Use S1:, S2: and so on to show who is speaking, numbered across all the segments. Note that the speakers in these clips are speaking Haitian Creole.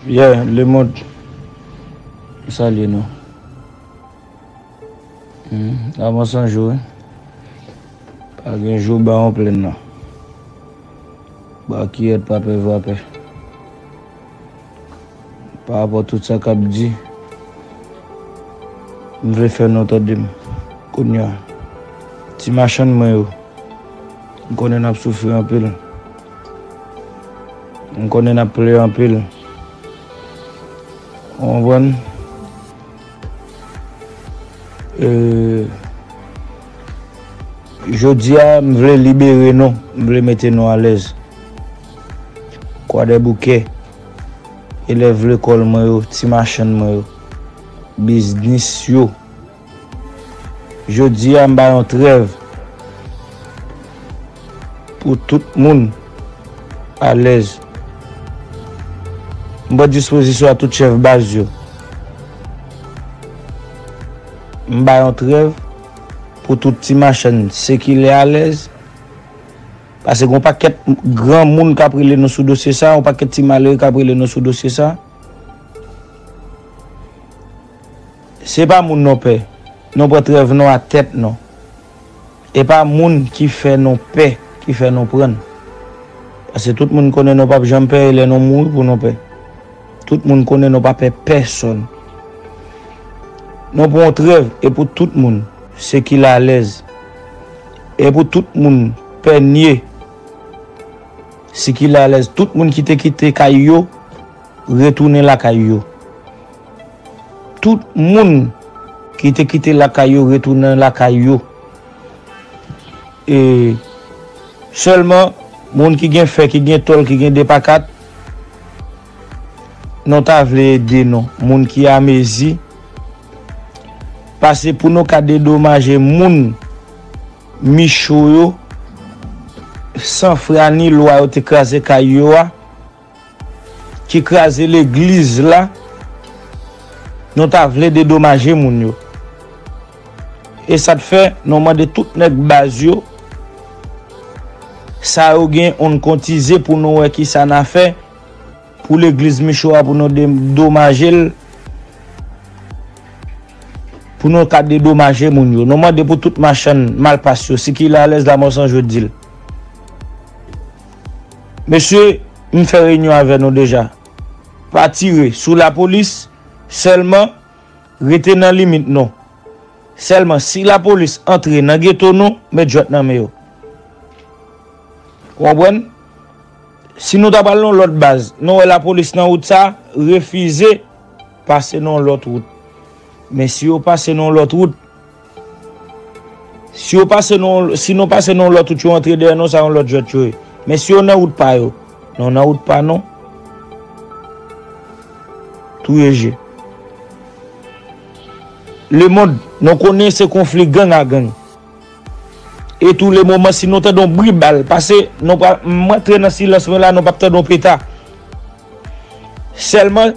S1: Yeah le mond m salye nou Humm avan san jou wi Pa gen jou ba yon plenn nan Ba kiyèt pa pè vapè Pa rapò tout sa kap di M vle fè nou tande m Kounya Ti machann mwen yo M konnen nap soufri anpil M konnen nap plen anpil ou konprann e jodia m vle libere nou m vle mete nou alèz kwadèboukè elèv lekòl mwen yo ti machann mwen yo biznis yo Jodi a m bay yon trèv pou tout moun alèz. M pran dispozisyon ak tout chèf baz yo. M bay yon trèv pou tout ti machann sikile alèz. Pase gon pakèt gran moun k ap rele nou sou dosye sa, yon pakèt ti malere k ap rele nou sou dosye sa. Se pa moun non pè non pran trèv non a tèt non e pa moun ki fè non pè ki fè non prann pase tout moun konnen non pap janm pè e lè non mouri pou non pè tout moun konnen non pa pè pèsòn non pran trèv e pou tout moun se ki la lèz e pou tout moun pè nye si ki la lèz tout moun ki te kite kay yo retounen lakay yo. Tout moun ki te kite lakay yo retounen lakay yo. E sèlman moun ki gen fè, ki gen tòl, ki gen de pa kat, nou ta vle ede nou. Moun ki amezi, pase pou nou ka dedomaje moun Micho yo, san fra ni lwa yo te kraze kay yo a. Ki kraze legliz la nou ta vle dedomaje moun yo e sa t fè nou mande tout nèg baz yo sa yo gen oun kontize pou nou wè kisa na fè pou legliz michou a pou nou dedomaje l pou nou ka dedomaje moun yo nou mande pou tout machann malpas yo sikile alèz lamò san jodi l. Mesye, m fè reyinyon avè nou deja. Pa tire sou lapolis, sèlman rete nan limit nou. Sèlman si lapolis antre nan geto nou met jwèt nan men yo. Ou konprann? Si nou ta pral nan yon lòt baz, nou wè lapolis nan wout sa, refize pase nan yon lòt wout. Men si yo pase nan yon lòt wout. Si yo pase nan yon, si nou pase nan yon lòt wout yo antre dèyè nou sa yon lòt jwèt yo ye. Men si yo nan wout pa yo, non nan wout pa nou. Touye je. Le mond, nou konnen se konfli gang a gang. E tou le moman si nou tande yon bri bal pase, nou pral, m antre nan silans mwen la nou pap tande yon peta. Sèlman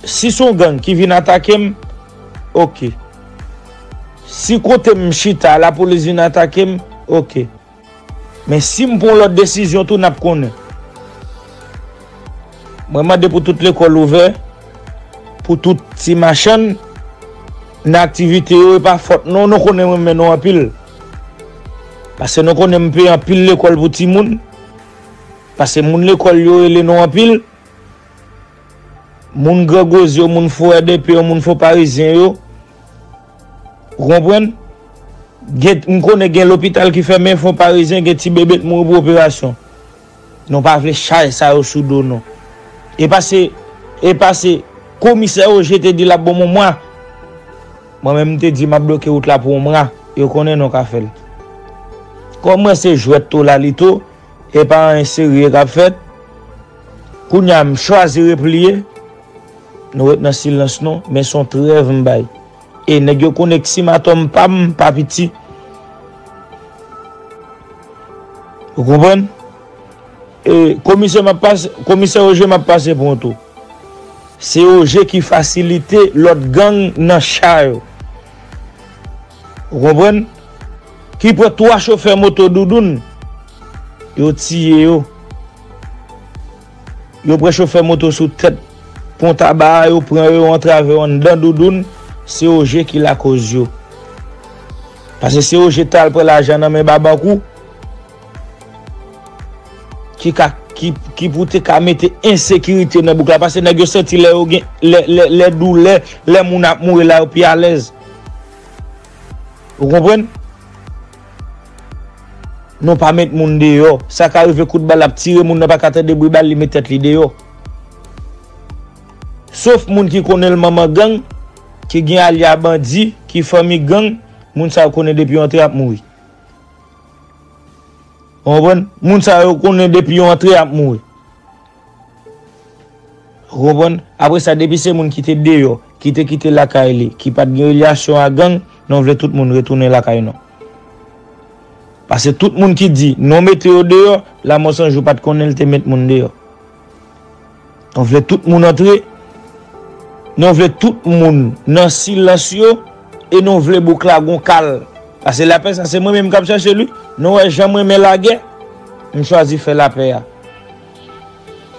S1: si son gang ki vin atake m. Ok. Si kote m chita a lapolis vin atake m, ok. Men si m pran yon lòt desizyon tou n ap konnen. Mwen mande pou tout lekòl ouvè, pou tout ti machann nan aktivite yo e pa fòt nou, nou konnen m renmen nou anpil. Pase nou konnen m peye anpil lekòl pou timoun, pase moun lekòl yo rele nou anpil. Moun gran goz yo, moun fo RDP yo, moun fo parizyen yo. Ou konprann? Gen, m konnen gen lopital ki fèmen, fon parizyen gen ti bebe k mouri pou operasyon. Nou pa vle chaj sa yo sou do nou. E pa se, e pa se komisè Ogé te di l ap ban m yon mwa. Mwen menm m te di m ap bloke wout la pou yon mwa. Yo konnen nou ka fè l. Kòm mwen se jwèt tolalito. Epa anyen serye kap fèt. Kounya m chwazi repliye. Nou ret nan silans nou, men son trèv m bay. E nèg yo konnen k sim atòm pam pa piti. Ou konprann? E komisè map pase, komisè Ogé map pase pran tou. Se Ogé ki fasilite lòt gang nan cha yo. Ou konprann? Ki pran 3 chofè moto Doudoun, yo tiye yo. Yo pran chofè moto sou tèt Pon Taba a, yo pran yo, yo antrave yo anndan Doudoun, se Ogé ki lakoz yo. Pase se Ogé t al pran lajan nan men Babankou. ki pou te ka mete ensekirite nan bouk la pase nèg yo santi lè yo gen lè doulè lè moun ap mouri la yo pi alèz ou konprann nou pa met moun deyò sa ka rive kout bal ap tire moun nan pa ka tande bri bal li met tèt li deyò sof moun ki konnen l manman gang ki gen alya bandi ki fanmi gang moun sa yo konnen depi yo antre ap mouri. Ou konprann? Moun sa yo konnen depi yo antre yap mouri. Ou konprann? Apre sa depi se moun ki te deyò, ki te kite lakay li, ki pat gen relyasyon a gang, non vle tout moun retounen lakay non. Pase tout moun ki di, non mete yo deyò, lamò sanjou pat konnen li te met moun deyò. Nou vle tout moun antre, nou vle tout moun nan silans yo e nou vle bouk la gon kal. Pase lapè sa se mwen menm kap chache l wi. Nou wè jan m renmen lagè, m chwazi fè lapè a.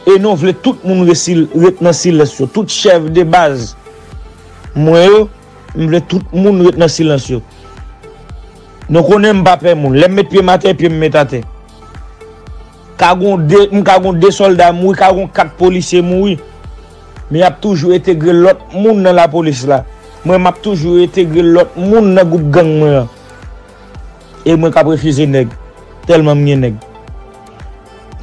S1: E nou vle tout moun ret nan silans yo. Tout chèf de baz mwen yo, m vle tout moun ret nan silans yo. Nou konnen m pa pè moun. Lè m met pye m atè, pye m met atè. Ka gon 2, m ka gon 2 sòlda mouri, ka gon 4 polisye mouri, men y ap toujou entegre lòt moun nan lapolis la. Mwen m ap toujou entegre lòt moun nan gwoup gang mwen an. E mwen k ap refize nèg, tèlman m gen nèg.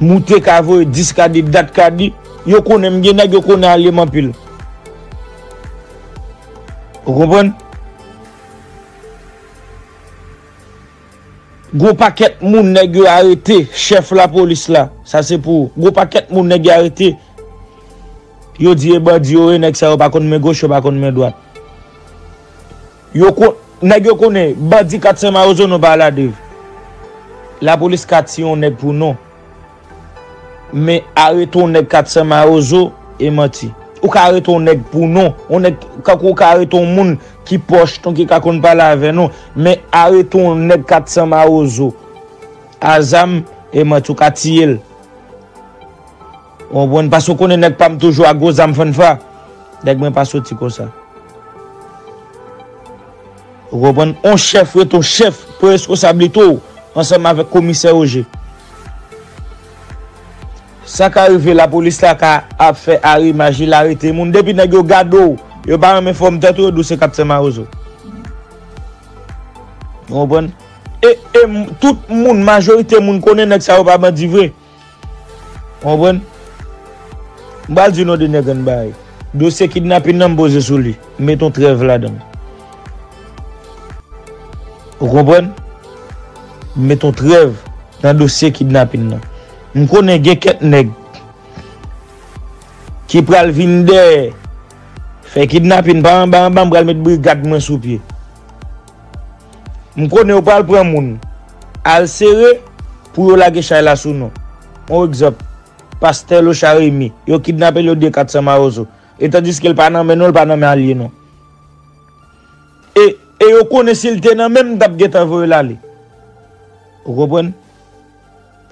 S1: Moute ka voye 10 ka di, dat ka di, yo konnen m gen nèg, yo konnen alye m anpil. Ou konprann? Gwo pakèt moun nèg yo arete chèf lapolis la sa se pou ou gwo pakèt moun nèg yo arete yo di e bandi yo ye nèg sa yo pa konn men goch yo pa konn men dwat yo kon nèg yo konnen bandi 400 mawozo nou pa ale a 2 lapolis ka tiye yon nèg pou non. Men arete yon nèg 400 mawozo e manti. Ou ka arete yon nèg pou non. Yon nèg kankou ou ka arete yon moun ki pòch nou ki ka konn pale avè nou. Men arete yon nèg 400 mawozo a zam e manti ou ka tiye l. Ou konprann? Paske ou konnen nèg pa m toujou a gwo zam fannfa. Nèg mwen pa soti konsa. Ou konprann? On chèf rete on chèf pou reskosablite ou ansanm avèk komisè Roje. Sa ka rive lapolis la ka ap fè arimaj li la rete moun. Depi nèg yo gade ou, yo pa renmen fòm tèt ou, yo di ou se kaptè mawozo. Ou konprann? E tout moun, majorite moun konnen nèg sa yo pa bandi vre. Ou konprann? M pral di w non de nèg ann bay. Dosye kidnapin nan m poze sou li. M met yon trèv ladan l. Ou konprann? M met yon trèv nan dosye kidnapin nan. M konnen gen kèk nèg ki pral vin dèyè fè kidnapin pa anba anba m pral met brigad mwen sou pye. M konnen yo pral pran moun. Al sere pou yo lage chay la sou nou. On egzanp, Pastè Locha Remy, yo kidnape l yo diye 400 mawozo. E tandiske l pa nan men nou, l pa nan men alye nou. E, e yo konnen si l te nan men m, m t ap gentan voye l ale. Ou konprann?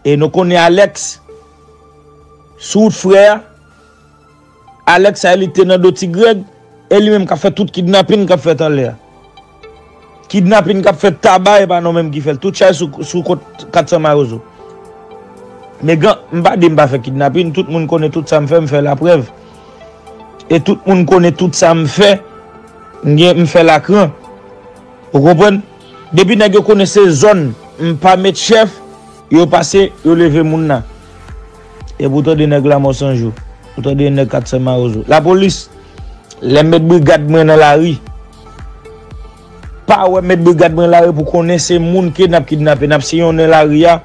S1: E nou konnen Alex, sou wout frè a. Alex sa e li te nan do ti Greg e li menm kap fè tout kidnapin kap fèt anlè a kidnapin kap fèt taba epa non menm ki fèl tout chay sou kont 400 mawozo megan m pa di m pa fè kidnapin tout moun konnen tout sam fè m fè laprèv e tout moun konnen tout sam fè m gen m fè lakran ou konprann depi nèg yo konnen se zòn m pa met chèf. Yo pase, yo leve moun nan. Epi ou tande nèg Lamò 100 jou. Ou tande yon nèg 400 mawozo. Lapolis, lè m met brigad mwen nan lari, pa wè m met brigad mwen nan lari pou konnen se moun ke n ap kidnape. N ap siyonnen lari a,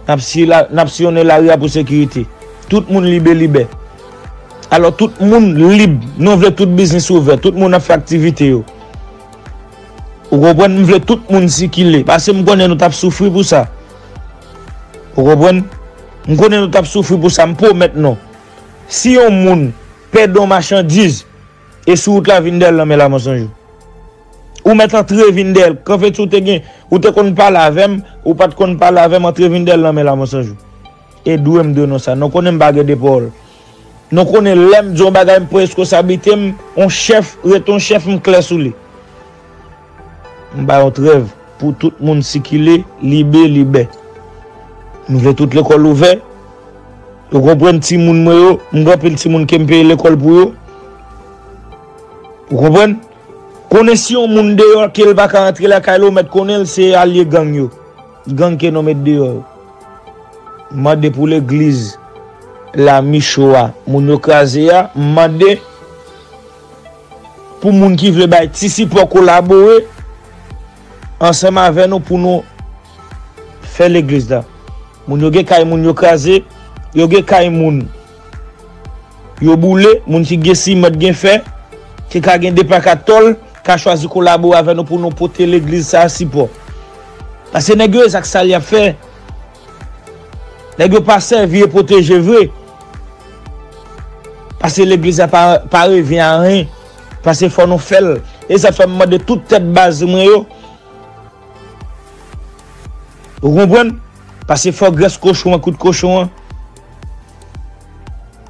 S1: n ap siyonnen lari a pou sekirite. Tout moun libe libè. Alò tout moun lib. Nou vle tout biznis ouvè. Tout moun ap fè aktivite yo. Ou konprann m vle tout moun sikile paske m konnen nou tap soufri pou sa ou konprann m konnen nou tap soufri pou sa m pwomèt nou si yon moun pèdi yon machandiz e sou wout la vin dèyèl nan men la monsonjou ou mèt antre vin dèyèl kanfe ti ou te gen ou te konn pale avèm ou pat konn pale avèm antre vin dèyèl nan men la monsonjou e dwe m dwe nou sa nou konnen m pa gen 2 pawòl. Nou konnen lèm di yon bagay m pran reskonsablite m yon chèf rete yon chèf m klè sou li. M bay yon trèv pou tout moun sikile libe libè. M vle tout lekòl ouvè yo konprann timoun mwen yo m gen anpil timoun kem peye lekòl pou yo ou konprann konnen si yon moun deyò kel paka antre lakay la ou mèt konnen l se alye gang yo. Gang ke nou met deyò yo. M mande pou legliz la micho a moun yo kraze a m mande pou moun ki vle bay ti sipò kolabore ansanm avè nou pou nou fè legliz la moun yo gen kay moun yo kraze yo gen kay moun Yo boule, moun ki gen siman t gen fè, te ka gen de pak a tòl, ka chwazi kolabore avè nou pou nou pote legliz sa a sipò. Pase nèg yo e zak sal y ap fè. Nèg yo pa sèvi e pwoteje vre. Pase legliz la pa revyen a anyen. Pase fò nou fè l. E sa fè m mande tout tèt baz mwen yo. Ou konprann? Pase fò grès kochon an kout kochon an.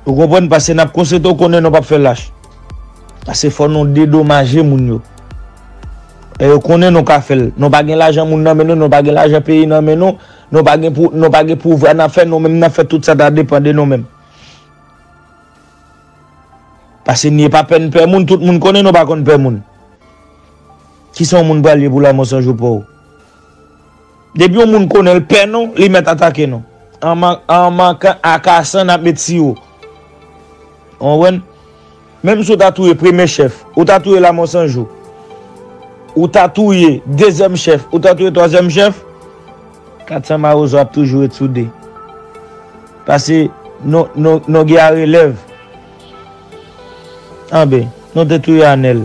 S1: Ou konprann? Pase n ap konsante w konnen nou p ap fè lach. Pase fò nou dedomaje moun yo. E yo konnen nou ka fè l. Nou pa gen lajan moun nan men nou, nou pa gen lajan peyi nan men nou, nou pa gen pou, nou pa gen pouvwa nan fè nou menm nan fè tout sa ta depan de nou menm. Pase nye pa pè n pè moun, tout moun konnen nou pa konn pè moun. Kisa yon moun pral ye pou lamò san jou paw. Depi yon moun konnenl pè nou li mèt atake nou. An mankan akasan nap met siwo. Ou konprann? Menm si ou ta touye premye chèf, ou ta touye lamò san jou, ou ta touye dezyèm chèf, ou ta touye twazyèm chèf, 400 mawozo ap toujou ret sou 2. Pase nou gen arelèv. Anben, nou te touye anèl.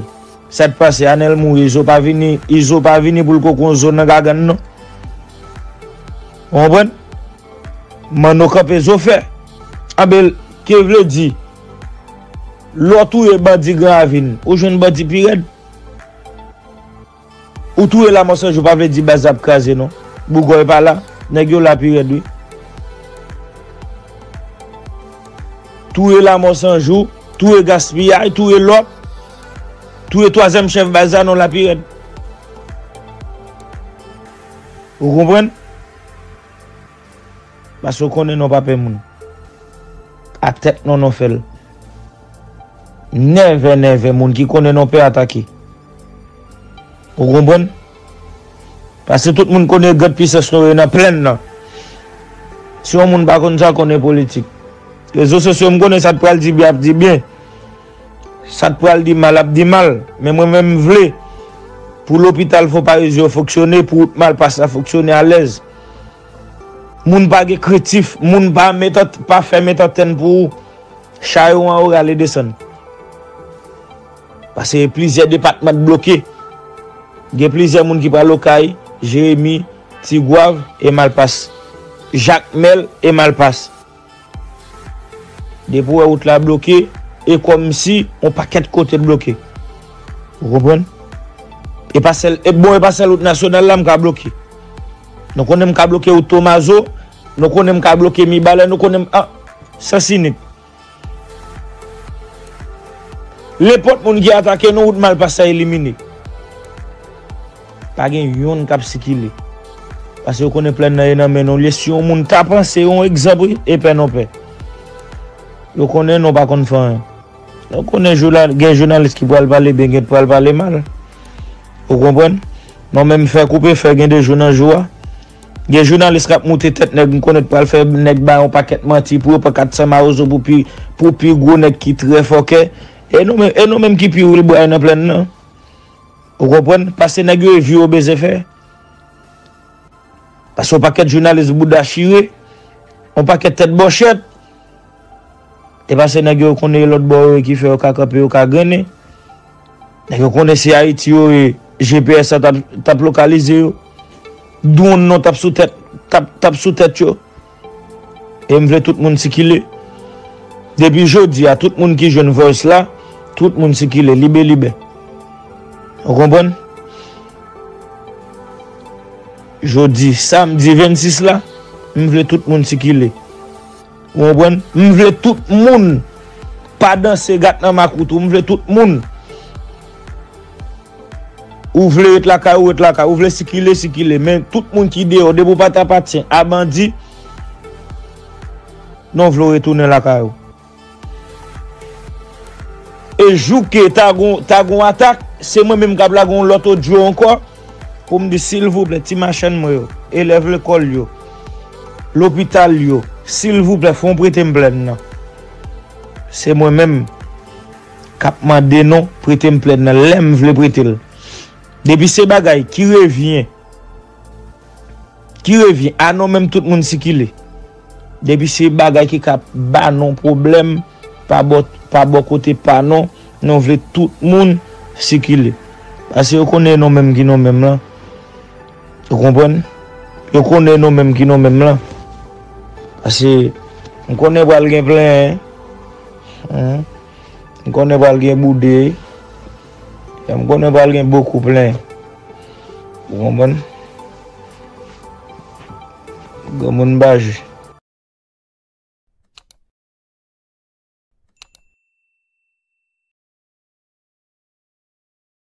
S1: Sak pase anel mouri izo pa vini izo pa vini poul ko kon zo nan gagann non ou konprann manno kanpe zo fè anbe lky vle di lè ou touye bandi gran ravin ou jwenn bandi pi rèd ou touye lamò san jou pa vle di baz la ap kraze non bougòy pa la nèg yo la pi rèd wi touye lamò san jou touye gaspiyay touye lòt. Touye twazyèm chèf baz la non la pi rèd. Ou konprann? Paske ou konnen non pa pè moun. A tèt non non fèl. Nève nève moun ki konnen non pè atake. Ou konprann? Paske tout moun konnen grand pisans non yo nan plenn nan. Si yon moun pa konn sa konnen politik. Rezo sosyo m konnen sa t pral di byen ap di byen. Sa k pral di mal ap di mal, men mwen menm m vle pou lopital Fò Parezi yo fonksyone, pou wout Malpas la fonksyone alèz. Moun pa gen krentif, moun pa met pa fè met antèn pou ou. Cha yo anwo rale desann. Pase plizyè depatman t bloke. Gen plizyè moun ki pral Okay, Jeremi, Tigwav e Malpas. Jakmèl e Malpas. Depi ou wè wout la bloke, e kòmsi yon pakèt kote bloke. Ou konprann? E pa sèl, e bon e pa sèl wout nasyonal la m ka bloke. Nou konnen m ka bloke wout Tomazo, nou konnen m ka bloke Mibalè, nou konnen m, an, Sans Unique. Nenpòt moun ki atake nou, wout Malpas la elimine. Pa gen youn kap sikile. Pase yo konnen plèn nan ye nan men nou liye si yon moun ta panse yon egzanp wi e pè non pè. Yo konnen nou pa konn fè anyen. Yo konnen gen jounalis ki pral pale byen gen ki pral pale mal. Ou konprann? Non menm fè koupe fè gen de jou nan jou a. Gen jounalis kap moute tèt nèg m konnen k pral fè nèg ba yon pakèt manti pou yo pran 400 mawozo pou pi pou pi gwo nèg ki trè fòkè. E nou menm ki pi wilbray nan plèn nan? Ou konprann? Pase nèg yo e vye yo bezwen fè. Pase yon pakèt jounalis bouda chire, yon pakèt tèt bòchèt. E pase nèg yo konnen e lòt bò yo e ki fè yo ka kanpe, yo ka grennen. Nèg yo konnen se Ayiti yo ye, GPS la t ap lokalize yo. Dwonn nou t ap sou tèt yo. E m vle tout moun sikile. Depi jodi a tout moun ki jwenn voice la, tout moun sikile libe libe. Ou konprann? Jodi samdi 26 la, m vle tout moun sikile. Ou konprann? M vle tout moun pa danse gat nan makout ou, m vle tout moun. Ou vle ret lakay ou ret lakay, ou vle sikile sikile men tout moun ki deyò depi ou pa ta apatyen a bandi non vle w retounen lakay ou. E jou ke ta gon ta gon atak se mwen menm kap lage yon lòt odyo ankò pou m di silvouplè ti machann mwen yo, elèv lekòl yo, lopital yo silvouplè fon prete m plèn nan se mwen menm. kap mande nou prete m plèn nan lèm vle prete l depi se bagay ki revyen ki revyen a nou menm tout moun sikile depi se bagay ki ka ba nou pwoblèm pa bò pa bò kote pa nou nou vle tout moun sikile pase yo konnen nou menm ki nou menm lan. Ou konprann? Yo konnen nou menm ki nou menm lan. Pase m konnen pral gen plenyen. M konnen pral gen boude. M konnen pral gen bokou plenyen. Ou konprann? Granmoun pa jwe.